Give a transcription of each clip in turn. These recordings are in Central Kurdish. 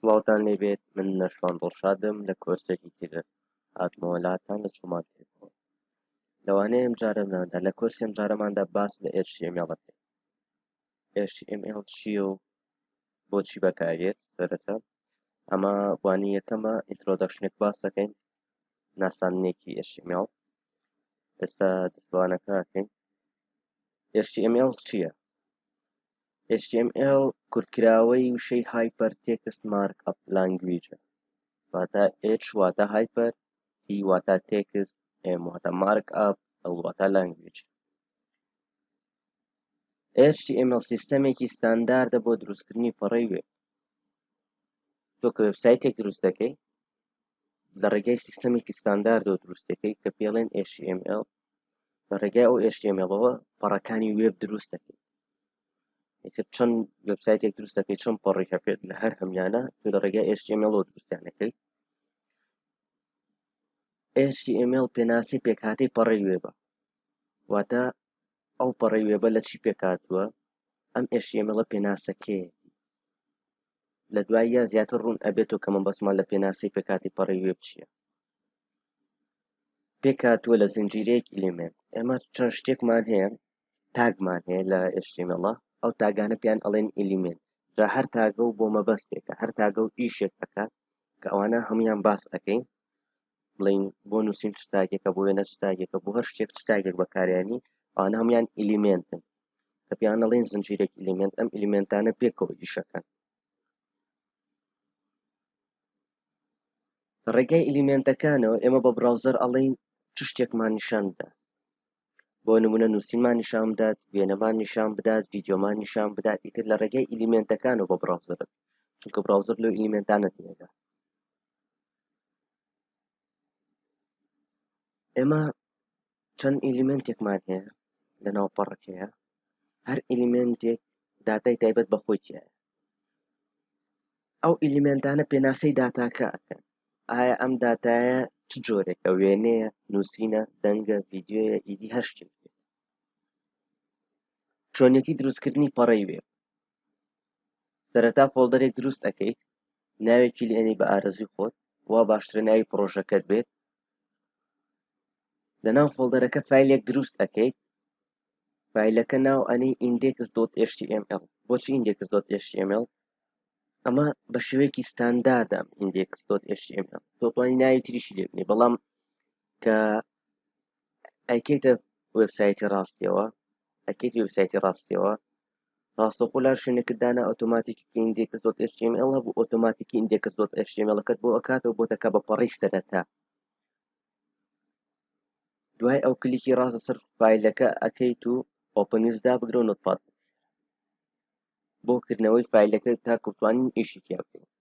سڵاوتان لێبێت من نەشوان دڵشادم لە کۆرسێکی تر هاتمەوەلاتان لە چۆمان پێکەوە لەوانەیە ئەم جارەماندا لە کۆرسی ئەم جارەماندا باس لە ئێرشێمیاڵەکەی HTML چییە و بۆچی بەکاردێت سەرەتا ئەمە وانەی یەکەمە ئینترۆدەکشنێک باس دەکەین ناساندنێکی HTML ئێستا دەستوانەکە دەکەین HTML چییە HTML کورتکراوەی وشەی هایپەر تێکست مارک ئەپ لانگویجە واتە H واتە هایپەر T واتە تێکست M واتە مارک ئەپ ئەو واتە لانگویج HTML سیستەمێکی ستانداردە بۆ دروستکردنی پەڕەی وێب تۆ کە وێبسایتێک دروست دەکەی لە ڕێگای سیستەمێکی ستانداردەوە دروستەکەی کە پێڵێن HTML لە ڕێگای ئەو HTMLەوە پەڕەکانی وێب دروست دەکەی ئیتر چەند وبسایتێک دروست دەکەی چەند پەڕی هەپێت لە هەر هەمیانە تو لە ڕێگە HTML دروستیانەکەی HTML پێناسی پێکهاتەی پەڕی وێبە واتە ئەو پەڕەی وێبە لە چی پێکاتوە ئەم ئێشیێمەڵە پێناسەکەی لە دواییە زیاتر ڕوون ئەبێتۆ کە من بەسمان لە پێناسی پێکاتی پەڕی وێب چییە پێکاتوە لە زنجیرەیەک ئلیمنت ئێمە چەند شتێکمان هەیە تاگمان هەیە لە ئێشتیمەڵە ئەو تاگانە پێیان ئەڵێن ئلیمنت جا هەر تاگە و بۆ مەبەستێکە هەر تاگە و ئیشێک ئەکات کە ئەوانە هەمویان باس ئەەکەین بڵین بۆ نووسین چ تاکێکە بۆ وێنە چ تاکێکە بۆ هەر شتێک چ تاکێک بەکاریانی ئەوانە هەموان ئیلیمنتن کە پێیان دەڵێن زنجیرێک ئیلیمنت ئەم ئیلیمنتانە پێکەوە ئیشەکەن ڕێگای ئیلیمنتەکانەوە ئێمە بە براوزەر ئەڵین چ شتێکمان نیشان بدات بۆ نمونە نووسینمان نیشان بدات وێنەمان نیشان بدات ویددیۆمان نیشان بدات ئیتر لە ڕێگەی ئیلیمنتەکانەوە بە براوزەرت چونکە براوزەر لەو ئیلیمنتانە تێدا ئێمە چەند ئیلیمێنتێکمان هەیە لە ناو پەڕەکەیە هەر ئیلیمێنتێک داتای تایبەت بە خۆی تایە ئەو ئیلیمێنتانە پێناسەی داتاکە ئەکەن ئایا ئەم داتایە چ جۆرێکە وێنەیە نووسینە دەنگە ڤیددیوە ئیدی هەر شتێک چۆنێتی دروستکردنی پەڕی وێ سەرەتا فۆڵدەرێک دروست ئەکەیت ناوێکی لێ ئەنی بە ئارەزوی خۆت وا باشترە ناوی پڕۆژەکەت بێت لەناو فۆڵدەرەکە فیلێک دروست ئەەکەیت فیلەکە ناو ئەنی ئیندێکس دۆت HTML بۆچی ئیندێکس دۆت HTML ئەمە بە شێوەیەکی ستانداردام ئیندێکس دۆت HTML تۆتوانی ناوی تریشی لێبنی بەڵام کە ئەکەیتە وبسایتی ڕاستیەوە ئەکەیت وبسایتی ڕاستیەوە ڕاستەوخۆ لە هەر شوێنێکت دانا ئۆتۆماتیکی ئیندێکس دۆت HTML هەبوو ئۆتۆماتیکی ئیندێکس دۆت HTML کەت بۆ ئەکاتەوە بۆ دەکە بە پەڕی سەرەتا دوای ئەو کلیکی ڕاستە سەر فیلەکە ئەەکەیت و ئۆپنیز دابگرە و نوتپات بۆ کردنەوەی فیلەکە تا کوتوانین ئیشی تیا بکەین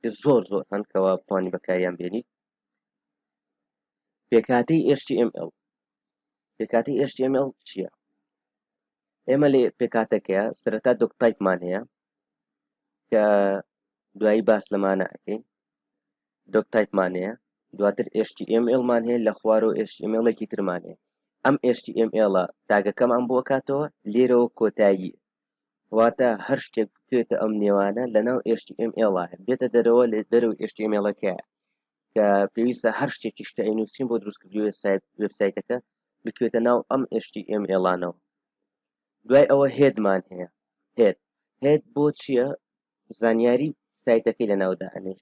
کە زۆر زۆر هەن کەوا بتوانانی بەکاریان بێنیت پێکاتی HTML پێکاتی HTML چییە ئێمە لێ پێکاتەکەیە سەرەتا دۆک تایپمان هەیە کە دوایی باس لەمانە ئەەکەین دۆک تایپمان هەیە دواتر HTML مان هەیە لە خوارەوە HTMLێکی ترمانێ ئەم HTML تاگەکەمان بۆ کاتەوە لێرەوە کۆتایی واتە هەر شتێک بکرێتە ئەم نێوانە لەناو HTML ە بێتە دەرەوە لە دەرو HTML ەکە کە پێویستە هەر شتێکیش کە ئەینوسین بۆ دروستکردوێت سایت وبسایتەکە بکوێتە ناو ئەم HTML ەوە دوای ئەوە هێدمان هەیە هێت هێت بۆ چییە زانیاری سایتەکەی لە ناودا ئەنێ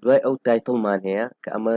دوای ئەو تایتڵمان هەیە کە ئەمە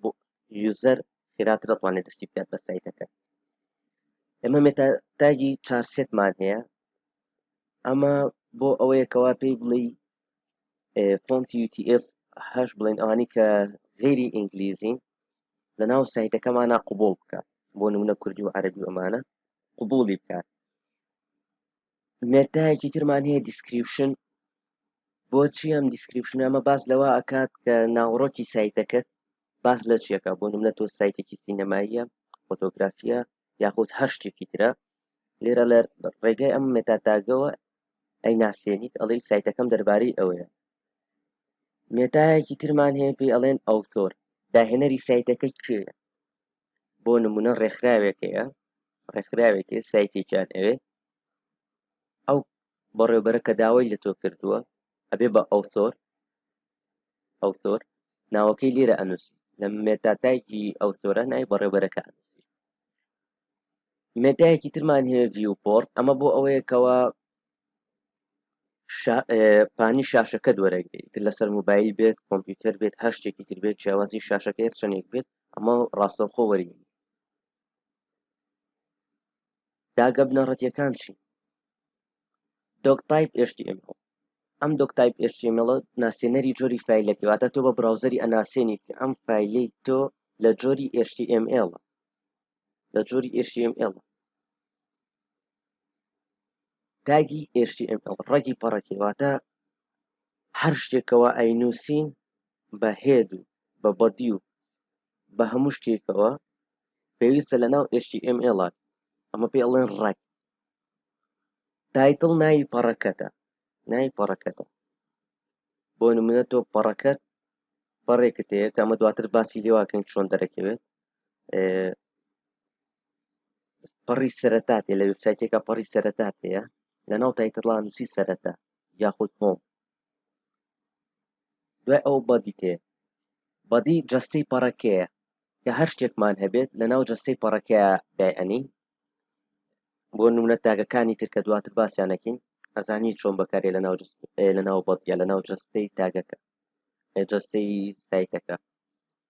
بۆ یوزەر خێراتر دەتوانێت دەستی بکات بە سایتەکە ئەمە مێتا تاگی چار سێتمان هەیە ئەمە بۆ ئەوەیەکەوە پێی بڵێ فۆنتی UTF هەش بڵێن ئەوانی کە غێری ئینگلیزین لە ناو سایتەکەمانە قوبول بکە بۆ نمونە کوردی و عەربی ئەمانە قوبولی بکات مێتایەکی ترمان هەیە دیسکریپشن بۆچی ئەم دیسکریپشن ئەمە باس لەوە ئەکات کە ناوەڕۆکی سایتەکەت باس لە چیەکە بۆ نمونە تۆ سایتێکی سینەماییە فۆتۆگرافیە یاخود هەر شتێکی ترە لێرە لە ڕێگای ئەم مێتاتاگەوە ئەی ناسێنیت ئەڵێ سایتەکەم دەربارەی ئەوەیە مێتایەکی ترمان هەیە پێی ئەڵێن ئەوتۆر داهێنەری سایتەکە کێە بۆ نمونە ڕێکخراوێک هەیە ڕێکخراوێک هەیە سایتێکیان ئەوێ ئەو بەڕێوبەرە کە داوای لە تۆ کردووە ئەبێ بە ئەو سۆر ئەو سۆر ناوەکەی لێرە ئەنووسی لە مێتاتایکی ئەو سۆرە نای بەڕێوبەرەکە ئەنووسی مێتایەکی ترمان هەیە ڤیوپۆرت ئەمە بۆ ئەوەیەکەوە شا پانی شاشەکەت وەرەگرێ ئیتر لەسەر موبایل بێت کۆمپیوتەر بێت هەر شتێکی تر بێت جیاوازی شاشەکە هەر چەندێک بێت ئەمە ڕاستەوخۆ وەری داگە بنەڕەتیەکان چی دۆک تایپ HTML ئەم دۆک تایپ HTML ناسێنەری جۆری فیلەکە واتە تۆ بە براوزەری ئەناسێنیت کە ئەم فیلی تۆ لە جۆری HTML لە جۆری HTML تاگی HTML ڕەگی پەڕەکی واتە هەر شتێک کەوا ئەینووسین بە هێد و بە بەدی و بە هەموو شتێکەوە پێویستە لە ناو HTML ئەمە پێ ئەڵێن ڕەگ تایتڵ ناوی پەڕەکەتە ناوی پەڕەکەتە بۆ نمونە تۆ پەڕەکەت پەڕێکت هەیە کە ئەمە دواتر باسی لێواکەین چۆن دەرەکەوێت پەڕی سەرەتا تێ لە وبسایتێکە پەڕی سەرەتا تەیە لە ناو تایتڵانوسی سەرەتا یاخود هۆم دوای ئەو بەدی تێ بەدی جستەی پەڕەکەیە کە هەر شتێکمان هەبێت لە ناو جستەی پەڕەکە دایئەنین بۆ نمونە تاگەکانی ترکە دواتر باسییانەکەین ئەزانی چۆن بەکارێ لە ناو لە ناو بەدیە لە ناو جستەی تاگەکە جستەی سایتەکە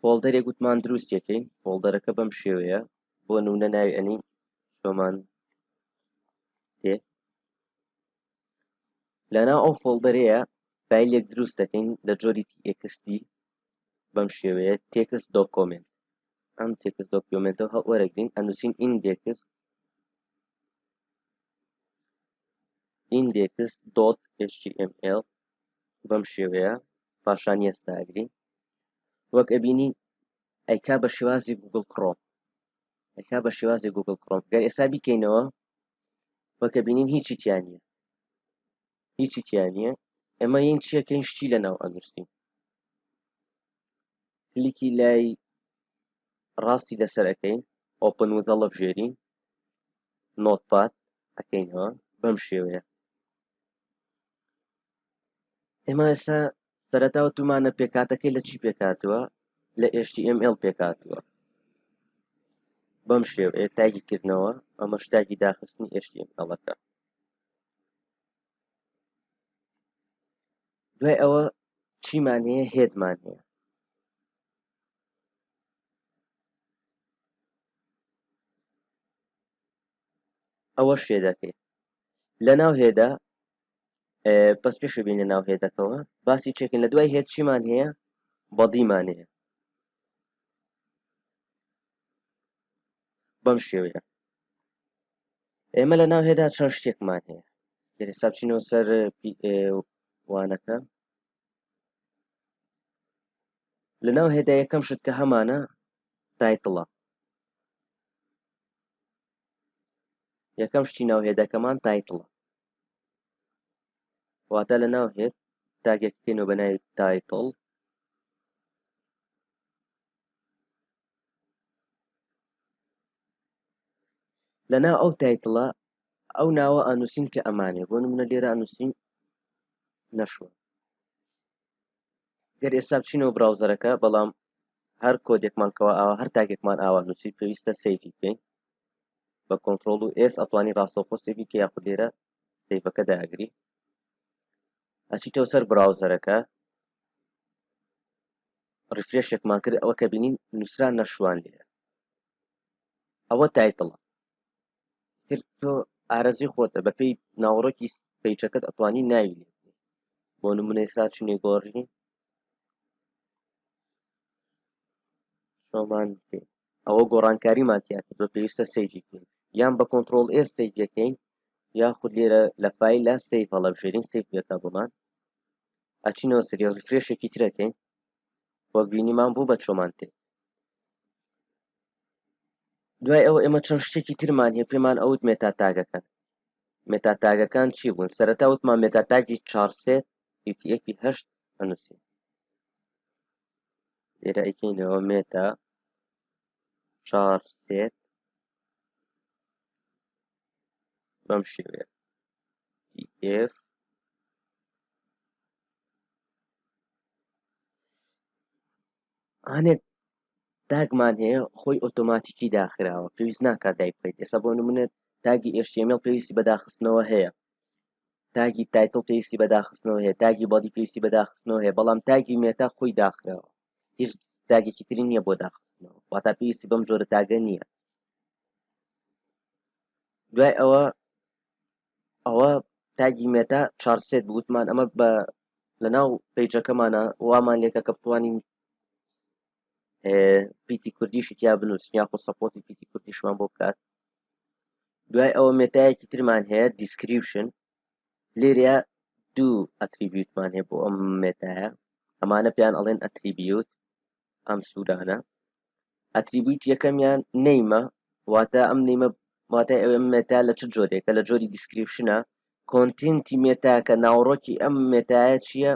فۆڵدەرێک وتمان دروستیەکەین فۆڵدەرەکە بەم شێوەیە بۆ نونە ناوی ئەنین شۆمان تێ لەنا ئەو فۆڵدەرەیە فیلێک دروست دەکەین لە جۆری تێکستی بەم شێوەیە تێکس دۆکۆمنت ئەم تێکس دۆکیۆمنتە هەڵوەرەگرین ئەنووسین ئیندێکس ئیندێکس دۆت HTML بەم شێوەیە پاشان یەستاگرین وەک ئەبینین ئەیکا بە شێوازی گوگل کڕۆم ئەیکا بە شێوازی گوگل کڕۆم گەر ئێستا بیکەینەوە وەکە بینین هیچی تیانە هیچی تیانە ئەمە یین چیەکەین شتی لە ناو ئەنووسین کلیکی لای ڕاستی لەسەر ئەەکەین ئۆپن وزەڵە بژێرین نۆتپات ئەەکەینەوە بەم شێوەیە ئێمە ئێستا سەرەتا وتومانە پێکهاتەکەی لە چی پێکهاتووە لە HTML پێکهاتووە بەم شێوەیە تاگی کردنەوە ئەمە شتاگی داخستنی HTMLەکە دوای ئەوە چیمان هەیە هێدمان هەیە ئەوەش هێدەکەی لەناو هێدا پس پێش بینە ناو هێدەکەەوە باسی چێکن لە دوای هێت چیمان هەیە بەدیمان هەیە بەم شێوەیە ئێمە لە ناو هێدا چەند شتێکمان هەیە ئێستا بچینەوە سەر وانەکە لە ناو هێدا یەکەم شت کە هەمانە تایتڵە یەکەم شتی ناو هێدەکەمان تایتڵە واتە لە ناو هێت تاگەکەکەینەوە بە ناوی تایتڵ لە ناو ئەو تایتڵە ئەو ناوە ئەنووسین کە ئەمانێ بۆ نمونە لێرە ئەنووسین نەشوە گەر ئێستا بچینەوە براوزەرەکە بەڵام هەر کۆدێکمان کەوا ئاوا هەر تاکێکمان ئاوا نووسی پێویستە سەیفی بکەین بە کۆنتترۆل و ئێس ئەتوانی ڕاستەوخۆ سێبی کە یاخود لێرە سەیفەکە داگری ئەچیتەوە سەر براوزەرەکە ڕفرێشێکمان کرد ئەوە کە بینین نووسران نەشوان لێرە ئەوە تایتڵە تر تۆ ئارەزوی خۆتە بەپێی ناوەڕۆکی پیچەکەت ئەتوانی ناوی لێ بۆ نمونە ئێستا چینێ گۆڕی شۆمان پێ ئەوە گۆڕانکاریمان تیا کرد بە پێویستە سەیری بکەین یان بە کۆنتترۆل ئێس سەیرەکەین یاخود لێرە لە فیلە سیف هەڵە بژێرین سیفەکە بۆمان ئەچینەوە سری ڕفرێشێکی ترەکەین وەبینیمان بوو بە چۆمان تێ دوای ئەوە ئێمە چەند شتێکی ترمان هەیە پێمان ئەوت مێتا تاگەکان مێتا تاگەکان چی بوون سەرەتا وتمان مێتا تاگی چارسێت یەکی هەشت هەنووسین لێرە ئەیکەینەوە مێتا چار سێت بەم شێوەیە df هەنێک تاگمان هەیە خۆی ئۆتۆماتیکی داخراوە پێویست ناکات دای بکەیت ئێستا بۆ نمونێت تاگی ئێشتێمێڵ پێویستی بەداخستنەوە هەیە تاگی تایتڵ پێویستی بەداخستنەوە هەیە تاگی بەڵی پێویستی بەداخستنەوە هەیە بەڵام تاگی مێتا خۆی داخراوە هیچ تاگێکی تری نییە بۆ داخستنەوە واتا پێویستی بەم جۆرە تاگە نییە دوای ئەوە ئەوە تاگی مێتا چارسێت بوتمان ئەمە بە لە ناو پیجەکەمانە وامان لێکە کە بتوانین پیتی کوردیشی تیا بنووسین یاخۆ سەپۆتی پیتی کوردیشمان بۆ بکات دوای ئەوە مێتایەکی ترمان هەیە دیسکریپشن لێرە دوو ئەتریبیوتمان هەیە بۆ ئەم مێتایە ئەمانە پێیان ئەڵێن ئەتریبیوت ئەم سوودانە ئەتریبیوت یەکەمیان نیمە واتە ئەم نیمە واتە ئەوێ مێتا لە چ جۆرێکە لە جۆری دیسکریپشنە کۆنتینتی مێتاکە ناوڕۆکی ئەم مێتایە چییە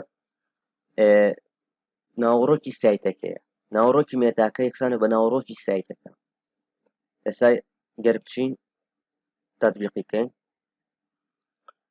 ناوڕۆکی سایتەکەیە ناوڕۆکی مێتاکە یەکسانە بە ناوڕۆکی سایتەکە ئێستا گەر بچین تاتبیقی بکەین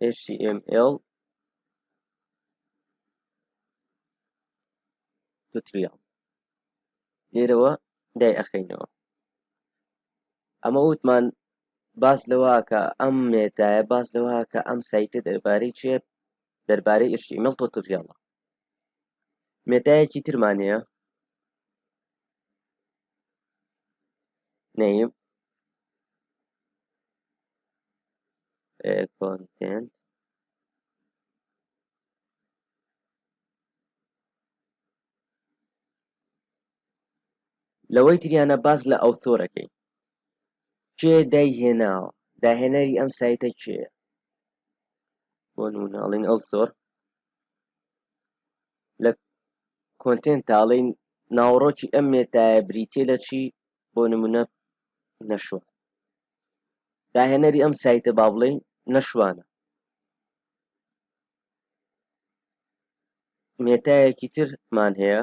html توتریال لێرەوە دایئەخەینەوە ئەمە وتمان باس لەوە کە ئەم مێتایە باس لەوە کە ئەم سایتە دەربارەی چێت دەربارەی ئشتیمەڵ تۆتریاڵە مێتایەکی ترمان هەیە نەیم content لەوەی تریانە باز لە ئەو تۆرەکەی کێ دای هێناوە داهێنەری ئەم سایتە کێە بۆ نمونەڵین ئەو زۆر لە کۆنتێنتاڵی ناوەڕۆکی ئەم مێتایە بریتیە لە چی بۆ نمونە نەشۆ داهێنەری ئەم سایتە با بڵێین نەشوانە مێتایەکی ترمان هەیە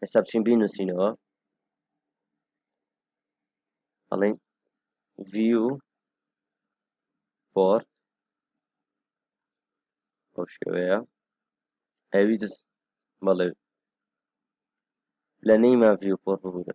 ئێستا بچین بینووسینەوە ئەڵین ڤیو پۆرت بۆ شێوەیە ئەوی دەست بەڵێ لە نەیما ڤیو پۆرت ببوورە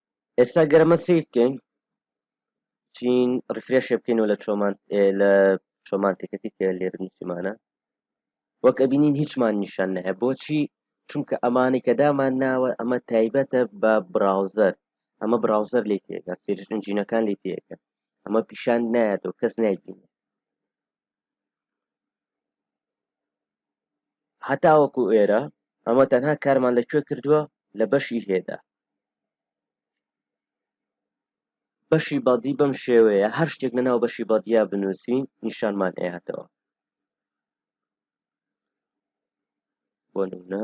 ئێستا گەر ئەمە سەیر بکەین چین ڕفرێشێ بکەینەوە لە چۆمان لە چۆمان تێکەتی کە لێرنیمانە وەک ئەبینین هیچمان نیشان نەیە بۆچی چونکە ئەمانی کە دامان ناوە ئەمە تایبەتە بە براوزەر ئەمە براوزەر لی تێگە سێژنجینەکان لی تێگە ئەمە پیشان نایەت و کەس نایبینێت هەتاوەکو ئێرە ئەمە تەنها کارمان لە کوێ کردووە لە بەشی هێدا بەشی بەدی بەم شێوەیە هەر شتێک لە ناو بەشی بەدیا بنووسین نیشانمان ئێهاتەوە بۆ نمونە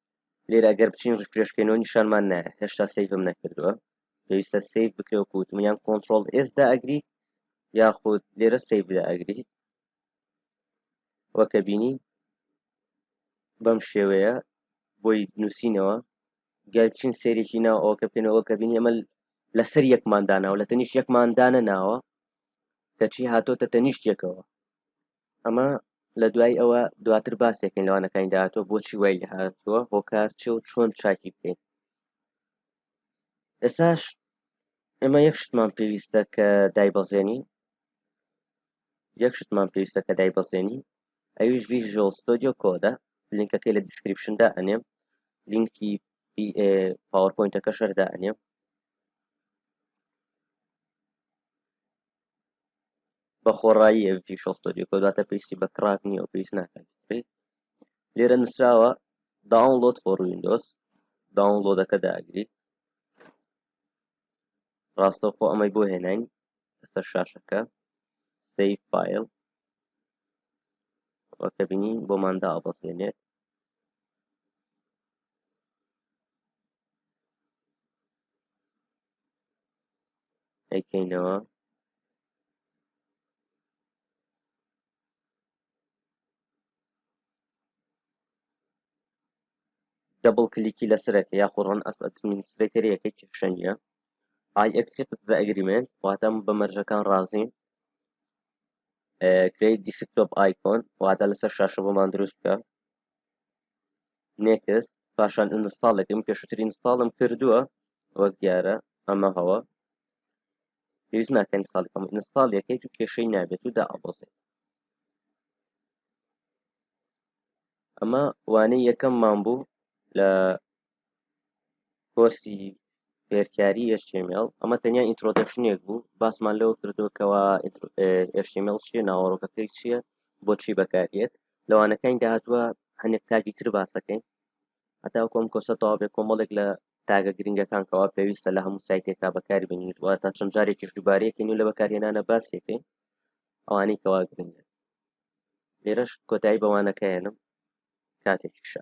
لێرە ئەگەر بچین ڕفرێش بکەینەوە نیشانمان نایە هێشتا سیفم نەکردووە پێویستە سیف بکرێ و کووتم یان کۆنتترۆل ئێسدا ئەگریت یاخود لێرە سیف لە ئەگریت وەکە بینی بەم شێوەیە بۆی نووسینەوە گەل چین سێرێکی ناو ئەوکە بکەنەوە کە بینی ئەمە لەسەر یەکماندانەوە لە تەنیش یەکماندانە ناوە کەچی هاتۆتە تەنیشتێکەوە ئەمە لە دوای ئەوە دواتر باسێکن لەوانەکانی داهاتوە بۆچی وای لە هاتووە هۆکار چ و چۆن چاکی بکەین ئێساش ئێمە یەکشتمان پێویستە کە دایبەزێنی یەکشتمان پێویستە کە دایبەزێنی ئەویش ڤژۆ ستۆدیۆ کۆدە لینکەکەی لە دیسکرپشندا ئەنێم لینکی پاوەپۆینتەکە شەردا ئەنێم بە خۆڕایی ئەڤی فیشەڵ ستۆدیۆ کۆد واتە پێویستی بە کڕاک نییە و پێویست ناکات بکرێت لێرە نووسراوە داونلۆد فۆر ویندۆز داونلۆدەکە داگری ڕاستەوخۆ ئەمەی بۆ هێناین لەسەر شاشەکە سیف فایل وەکە بینین بۆماندا ئەبەسێنێت ئەیکەینەوە. دەبڵ کلیکی لەسەرەکە یاخۆ ڕەن ئەس ئەدمینسترەیتەریەکەی کێشە نییە ئای ئەکسپت بە ئەگریمنت واتەم بە مەرجەکان ڕازین کریت دیسکتۆپ ئایکۆن واتە لەسەر شاشە بۆمان دروست بکە نێکست پاشان ئینستاڵێکم پێشتر ئینستاڵم کردووە وەک دیارە ئەمە هەوە پێویست ناکەن ساڵکەم ئینستاڵ یەکەیت و کێشەی نابێت و دا ئەبۆزێت ئەمە وانەی یەکەممان بوو لە کۆرسی فێرکاری HTML ئەمە تەنیا ئینترۆدەکشنێک بوو باسمان لەوە کردووە کەەوە HTML چیە ناوەڕۆکەکەی چییە بۆچی بەکارێت لەوانەکانی داهاتوە هەندێک تاکی تر باسەکەین هەتا کۆم کۆسە تەواێ کۆمەڵێک لە تاگە گرنگەکان کەوا پێویستە لە هەموو سایتێکا بەکار بینیت وە تا چەند جارێکیش دووبارەیەکەین و لە بەکارهێنانە باسێکەین ئەوانەی کەوا گرنگە لێرەش کۆتایی بە وانەکە ئەهێنم کاتێکی شە.